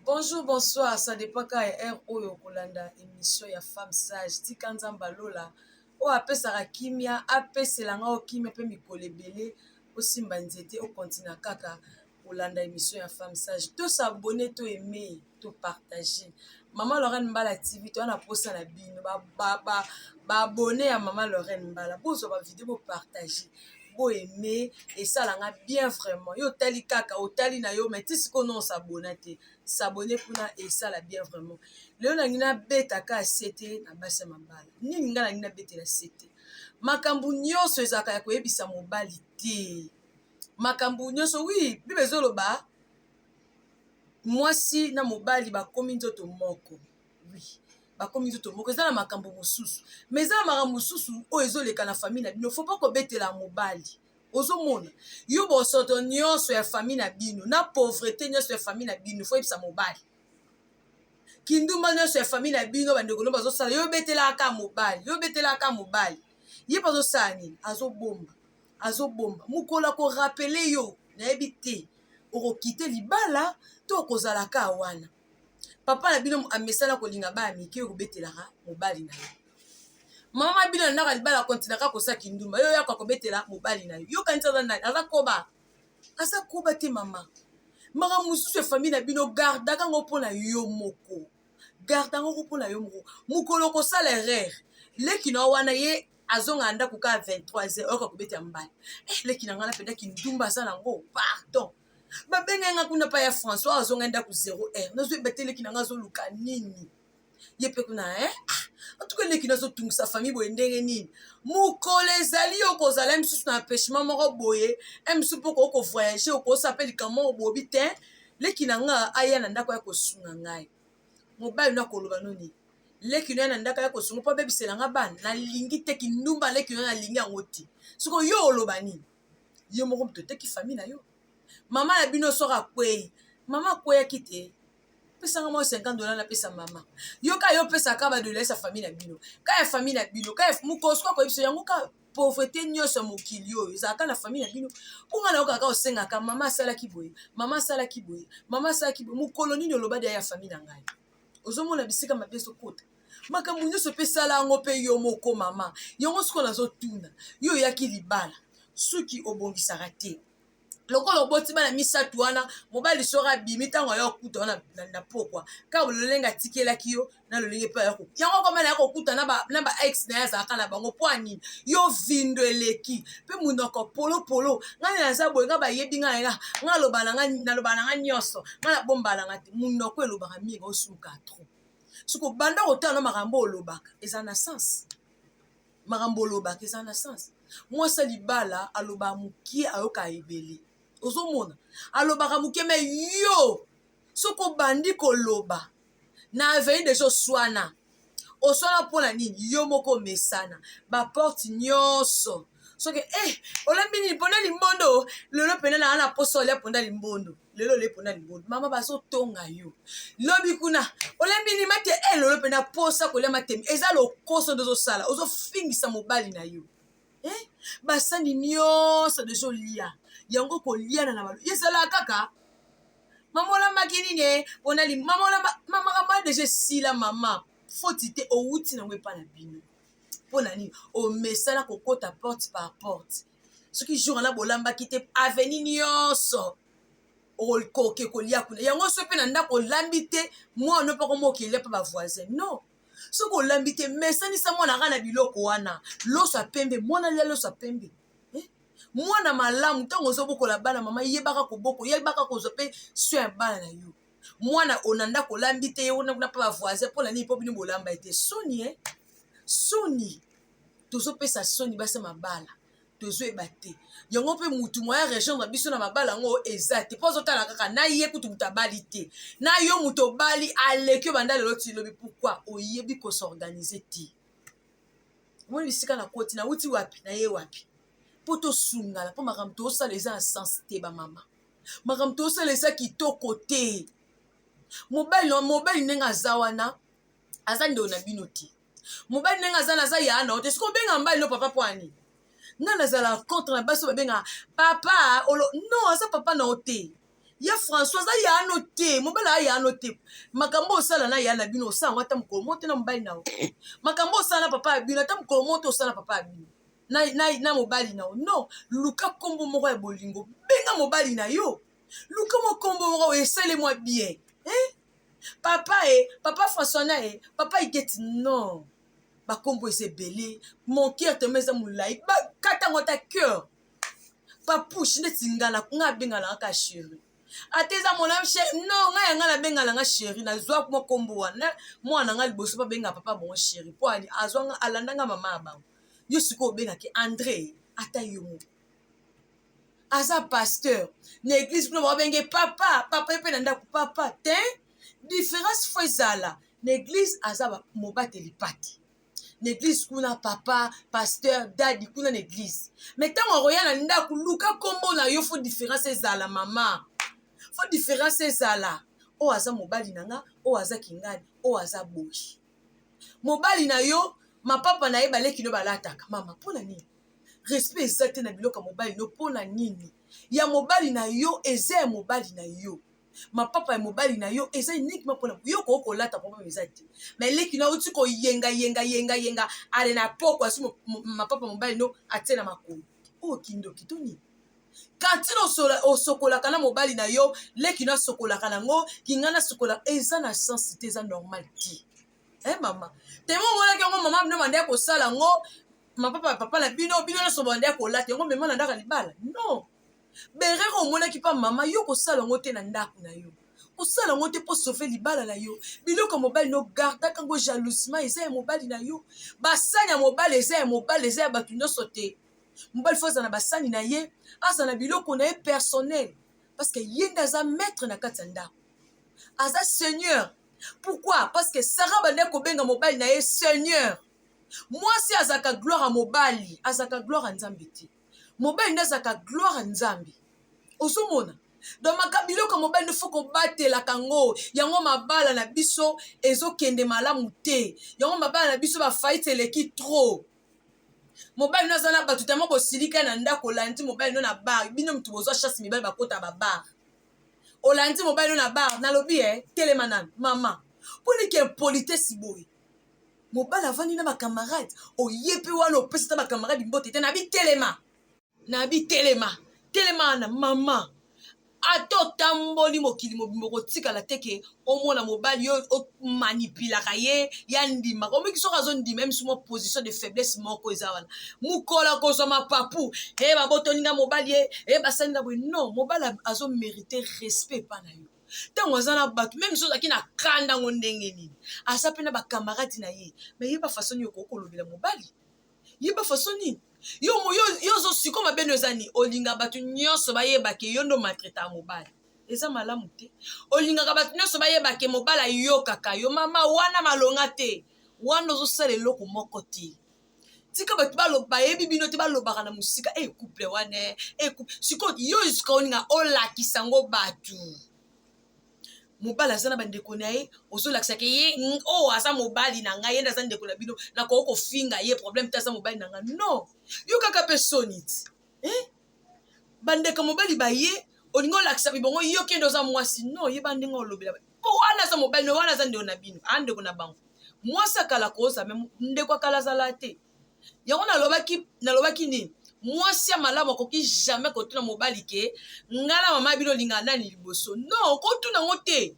Bonjour, bonsoir, ça depend ka ya heure oyo okolanda emission ya femme sage tika nzambe alola oyo apesaka kimia apesela nga okimia mpe mikolo ebele osimba nzete okontina kaka kolanda emission ya femme sage to s'abonne to aime to partage mama lorraine mbala tv toza na mposa na bino babone ya mama lorraine mbala bozwa bavideo bopartage boaime esala nga bien vraiment yo otali kaka otali na yo mai ti sikoyo non sabona te sabone kuna esala bien vraiment lelo nangi nabeta ka sete na basi ya mabala nini ngai nangi nabetela sete makambo nyonso ezalaka ya koyebisa mobali te makambo nyonso wi bible ezoloba mwasi na mobali bakomi nzoto moko wi bakomi nzoto moko eza na makambo mosusu ma eza na makambo mosusu oyo ezoleka na famille na bino fo mpo kobetela mobali ozomona yo bosoto nyonso ya famille na bino na pauvrete nyonso ya famille na bino fo yebisa mobali kindumba nyonso ya famille na bino bandeko no bazosala yo obetelaka mobali yo obetelaka mobali ye bazosala nini azobomba azobomba mokolo ako rappeler yo nayebi te okokite libala to okozala ka wana papa na bino amesana kolinga baya mike okobetelaka mobali na ye mama bino andaka libala kontinaka kosa kindumba yo yaka kobetela mobali na yo yokanisi aza nani aza koba aza koba te mama makambo mosusu ya famille na bino gardaka yango mpo na yo moko garda yango mpo na yo moko mokolo okosala erreur leki na yo wana ye azonga na ndako kaka 23 heure oyoka kobeta ya mbala eh, leki na ngai napenda kindumba aza nango pardon babengai ngai kuna pa ya françois azongai ndako 0 heure nazwi ebete leki na ngai azoluka nini ye mpe kuna eh? Ah, antuka leki nazotungisa famille boye ndenge nini mokolo ezali yo kozala misusu na empêchement moko boye msu mpo okoki kovoyage okosa mpe likambo moko bobi te leki na ngai aya na ndako ya kosunga ngai mobali no akoloba noni leki no ya na ndako ya kosunga mpo abebisela nga bana nalingi te kindumba leki no nalingi yango te soko yo oloba nini yo moko moto oteki fami na yo mama na bino soki akwei mama akweyaki te pesanga mwa 50 dola napesa mama yo ka yo pesaka badolaisa fami na bino ka ya fami na bino ka mokosuku akoyebisa yango ka pauvrete nyonso ya mokili oyo ezalaka na famille na bino mpo ngai nayoka kaka osengaka mama asalaki boye mama asalaki boye mama asalaki boye mokolo nini oloba deya ya famille na ngai ozomona bisika mabe ezokota makambo nyonso mpe sala yango mpe yo moko mama yango sikoyo nazotuna yo oyaki libala suki obongisaka te lokola oboti bana misato wana mobali soko abimi ntango aya kokuta wana na pokwa kaka lolenge atikelaki yo na lolenge mpe aya yango koma naya kokuta na ba ex na ye azalaka na bango mpo anini yo vindo eleki mpe monoko polopolo ngai naza boye ngai bayebi ngai nga ngai aloba na ngai naloba na ngai nyonso ngai nabomba na ngai te monoko elobaka mingi osuka trop soko banda kotala na makambo olobaka eza na sense makambo olobaka eza na sens mwasi ya libala alobaka mokie ayoka ebele ozomona alobaka mokie me yo soki obandi koloba na aveni deja oswana oswana mpo na nini yo moko omesana baporte nyonso soki e eh, olambi nini mponda limbondo lelo mpena naa na mposa olia mponda limbondo lelo lepo na libondo mama bazotonga yo lobi kuna olembi lima te e lelo mpe na posa kolia matemi eza lokoso nde ozosala ozofingisa mobali na yo eh? basani nyonso nde ezolia yango koliana na balo ezalaka kaka mama olambaki nini e mpona mama olamba makambo ya deja esila mama foti te owuti nango epai na bino mpo na nini omesana kokota porte par porte soki jour wana bolambaki te aveni nyonso okoke kolia kuna yango so mpe na ndako olambi te mwana mpe koma okelia mpe bavoisin non soki olambi te mesanisa mwana kaka na biloko wana loso ya pembe mwana lia loso ya pembe eh? mwana malamu ntango ozobokola bana mama yebaka koboko yebaka kozwa mpe soin ya bana na yo mwana ona ndako olambi te ye wana kuna mpe bavoisin mpo na nini mpo bino bolamba ye te soni e eh? soni tozopesa soni basi ya mabala tozoyeba te yango mpe mutu moya rejoindre biso na mabala yango eza te mpo azotala kaka na ye kutu moto abali te na yo moto obali aleki yo banda lelo tilobi pourkui oyebi kosorganize te omoni bisika na koti nauti wapi na ye wapi mpo tosungana mpo makambo tosala eza na sense te bamama makambo tosala eza kitoko te mobali mobali ndenge aza wana aza ndeko na bino te mobali ndenge aza naza yaa na yo te soki obengaka mbali no papa mpo ani nga nazala contre na basi babengaka papa olo non aza papa na yo te ye françois aza yaa no te mobali aa yaa no te makambo osala na yaa na bino osala yango ata mokolo moko te na mobali na yo makambo osala na papa ya bino ata mokolo moko te osala na papa ya bino na, na, na mobali na yo non luka nkombo moko ya bolingo benga mobali na yo luka mwa nkombo moko esale mwa bien eh? papa e papa françois na e papa igeti non bakombo eza ebele mon cœur tellement eza molai bakata yango ata cœur papouche neti ngala nga abengala nga ka chéri ata eza mona chéri non nga ya nga nabengala nga chéri nazwa mwa kombo wana mwana nga liboso babenga papa bongo chéri mpo azwa nga alanda nga mama ya bango yo sikoyo obengaki andre ata yo moko aza pasteur na eglise kuna babenge papa papa ye mpe na ndako papa te différence fo ezala na eglise aza mobateli pati na eglise kuna papa pasteur dadi kuna na eglise me ntango akoya na ndako luka nkombo na yo fo différence ezala mama fo différence ezala oyo aza mobali na nga oyo aza kingani oyo aza boyi mobali na yo mapapa na ye baleki no balataka mama mpo na nini respect eza te na biloko ya mobali no mpo na nini ya mobali na yo eza ya mobali na yo mapapa ya mobali na yo eza uniquement mpona yo koki kolata problème eza te mais leki na outi koyenga yenga yenga yenga ale na poko asi mapapa mobali no atie na makolo oyo oh, kindoki to nini katino osokolaka na mobali na yo leki no asokolaka nango kinga nasokola eza na sense te eza normal te e eh, mama temo omonaki yango mama bino banda ya kosala yango mapapa ya papa na bino bino nyonso banda ya kolata yango mema na ndaka libala non berere omonaki mpa mama yo kosala yango te na ndako na yo kosala yango te mpo sauve libala na yo biloko ya mobali na yo gardaka yango jalousement eza ya mobali na yo basani ya mobali eza ya mobali eza ya bato nyonso te mobali fo azala na basani na ye azala na biloko na ye personnel parce que ye nde aza maître na kati ya ndako aza seigneur pourquoi parce que sara bandaki kobenga mobali na ye seigneur mwasi azalaka gloire ya mobali azalaka gloire ya nzambe te mobali nde azalaka gloire ya nzambe ozomona donc maka biloko ya mobali nde fo kobatelaka yango yango mabala na biso ezokende malamu te yango mabala na biso bafaite eleki trop mobali no aza na bato tama bosilika na ndako olandi mobali no na bar bino moto bozwa chasse mibali bakota babar olandi mobali no na bar nalobi e eh, telema nano mama mpo nike impolitesi boye mobali avandi na bacamarade oye mpe wana opesi ta bacamarade mbote te na bitelema Nabi telema telema wana maman ata otamboli mokili mobimba okotikala te ke omona mobali yo omanipilaka ye ya ndima omiki soki azondima emisu mwa position de faiblesse moko eza wana mokolo akozwa mapapu e eh, babotoli nga mobali ye e eh, basali nga boye non mobali azomerite respect epa na yo ntango aza na bato meme soki ozalaki na kanda yango ndenge nini aza mpe na bakamaradi na ye me yeba faso nini okoki kolobela mobali yeba façon nini yo yo ozo siko mabe no eza nini olinga bato nyonso bayeba ke yo ndo matreta ya mobali eza malamu te olingaka bato nyonso bayeba ke mobali ayokaka yo mama wana malonga te wana ozosala eloko moko te tika bato baloba bayebi bino te balobaka na mosika e eh, couple wana e eh, eh, sikoyo yo esika olinga olakisa yango bato mobali aza na bandeko na ye ozolakisa ke ye oyo oh, aza mobali na ngai ye nde aza ndeko na bino nakoki kofinga ye problème te aza mobali na ngai non yo kaka mpe soni ti eh? bandeko mobali baye olingi olakisa bibongo yo kende oza mwasi non ye bandenge olobela mpo wana aza mobali wana aza ndeko na bino aa ndeko na bango mwasi akala koza me ndeko akala azala te yango nalobaki nalobaki nini mwasi ya malamu akoki jamais kotuna mobali ke nga na mama bino olingaka nani liboso non okotuna yango te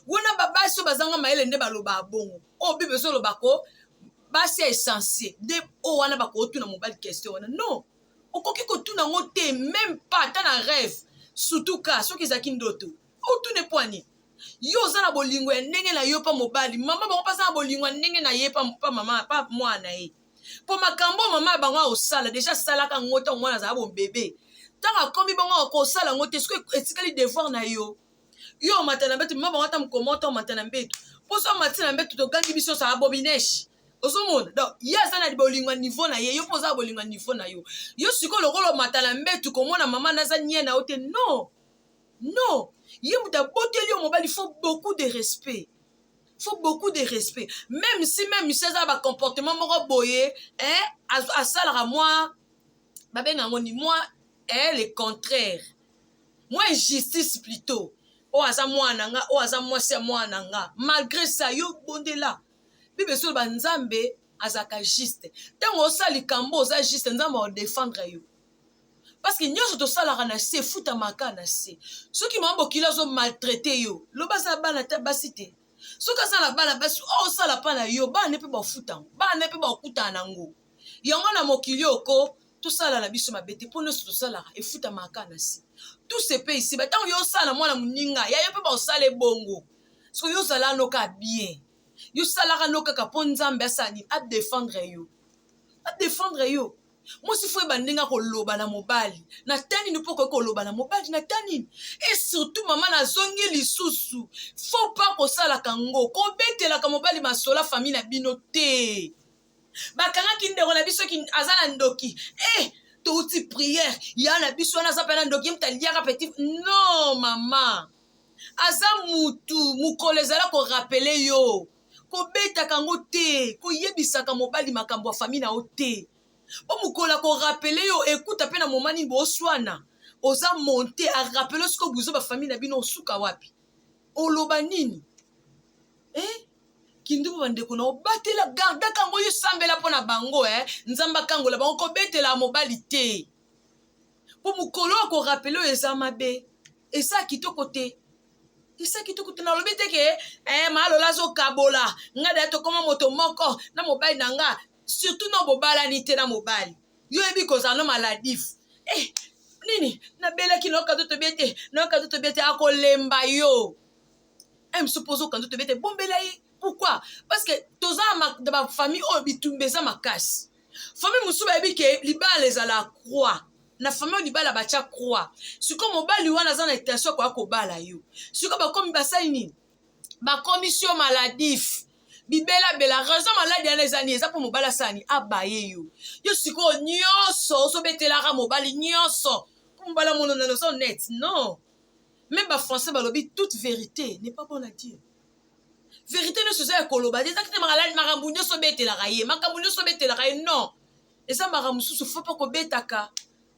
wana babasi oyo bazanga mayele nde balobaka bongo oyo bible ezoloba ko basi ya esensie nde oyo wana bakotuna mobali question wana non okoki kotuna yango te meme pas ata na rêve surtout ka soki ezalaki ndoto motuna epo ya nini yo oza na bolingo ya ndenge na yo mpa mobali mama bango mpe aza na bolingo ya ndenge na ye mpa mama mpa mwana na ye mpo makambo oyo mama ya bango akosala deja asalaka yango ntango mwana azala bobebe ntango akomi bango akosala yango te soki etikali devoir na yo yo omata na mbeto mama bango ata mokoma ota omata na mbeto mpo so omati na mbeto togangi biso osala bobineshi ozomona donc ye aza na bolingo ya niveau na ye yo mpo oza na bolingo ya niveau na yo yo sikoyo lokola omata na mbeto komona mama naza nie na yo te non non ye moto aboteli yo mobali faut beaucoup de respect faut beaucoup de respect même si même si aza na bacomportement moko boye eh, asalaka mwa babenga yango ni mwa eh, le contraire mwa injustice plutôt oyo oh, aza mwana na nga oyo oh, aza mwasi ya mwana na nga malgré ça yo bondela bible esoloba nzambe azalaka juste ntango osala likambo oza juste nzambe akodefendre yo parce que nyonso tosalaka na se efutamaka na se soki mama bokilo azo maltraite yo loba aza bana ata basi te soki aza na bana basi oyo osala mpa na yo bana ne mpe bafuta yango bana ne mpe bakutana na yango yango na mokili oko tosala na biso mabe te mpo nyonso tosalaka efutamaka na se tout se paye ici ba ntango yo osala na mwana moninga ya yo mpe baosala ebongo soki yo ozala no kaka bien yo salaka no kaka mpo nzambe asala nini adefendre yo adefendre yo mwasi fo yeba ndenge akoloba na mobali na ta nini mpo okoki koloba na mobali na ta nini e surtout mama nazongi lisusu fo mpa kosalaka yango kobetelaka mobali masola fami na bino te bakangaki ndeko na biso aza na ndoki e eh, touti priere ya na biso wana aza mpe na ndoki mta liaka petit non mama aza mutu mokolo ezala korapele yo kobetaka yango te koyebisaka mobali makambo ya fami na yo te mpo mokolo akorapele yo ekuta mpe na moma nini boswana oza monte arapele siko buzo bafami na bino osuka wapi oloba nini eh? kindumbu bandeko na obatela gardaka yango yosambela mpo na bango eh? nzambe akangola bango kobetela mobali te mpo mokolo oyo korapele oyo eza mabe eza kitoko te eza kitoko te nalobi te ke eh, malola azokabola ngai daya tokoma moto moko na mobali na nga surtout na bobalani te na mobali yo oyebi kozala no maladif eh, nini nabelaki naokato tobi ete naokato tobi ete akolemba yo eh, msu mpo ozoka nzoto ebete bombela ye pourquoi parce que toza na bafamille oyo bitumba eza makasi famille mosusu bayebi ke libala ezala croix na famille oyo libala batya croix sikoyo mobali wana aza na intention akoya kobala yo sikoyo bakomi basali nini bakomisi yo maladif bibelabela raison maladi yana eza nini eza mpo mobali asani abaye yo yo sikoyo nyonso ozobetelaka mobali nyonso mpo mobali amononana ozo net non Meme ba français balobi toute verite n'est pas bonne à dire. Verite nioso eza ya koloba te, ezaki te makambo nioso obetelaka ye, makambo nioso obetelaka ye non. Eza makambo mosusu faut pas kobetaka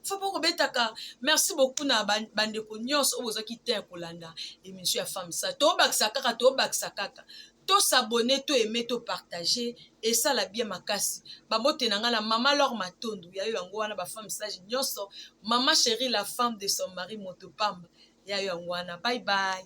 faut pas kobetaka. Merci beaucoup na bandeko nioso oyo bozwaki temps ya kolanda emission ya Femme Sage. Tobakisa kaka, tobakisa kaka. To s'abonner to aimer to partager esala bien makasi ba mbote na nga na maman l'or matondo ya yo yango wana ba femme sage nionso maman cherie la femme de son mari moto pamba ya yo yango wana bye bye.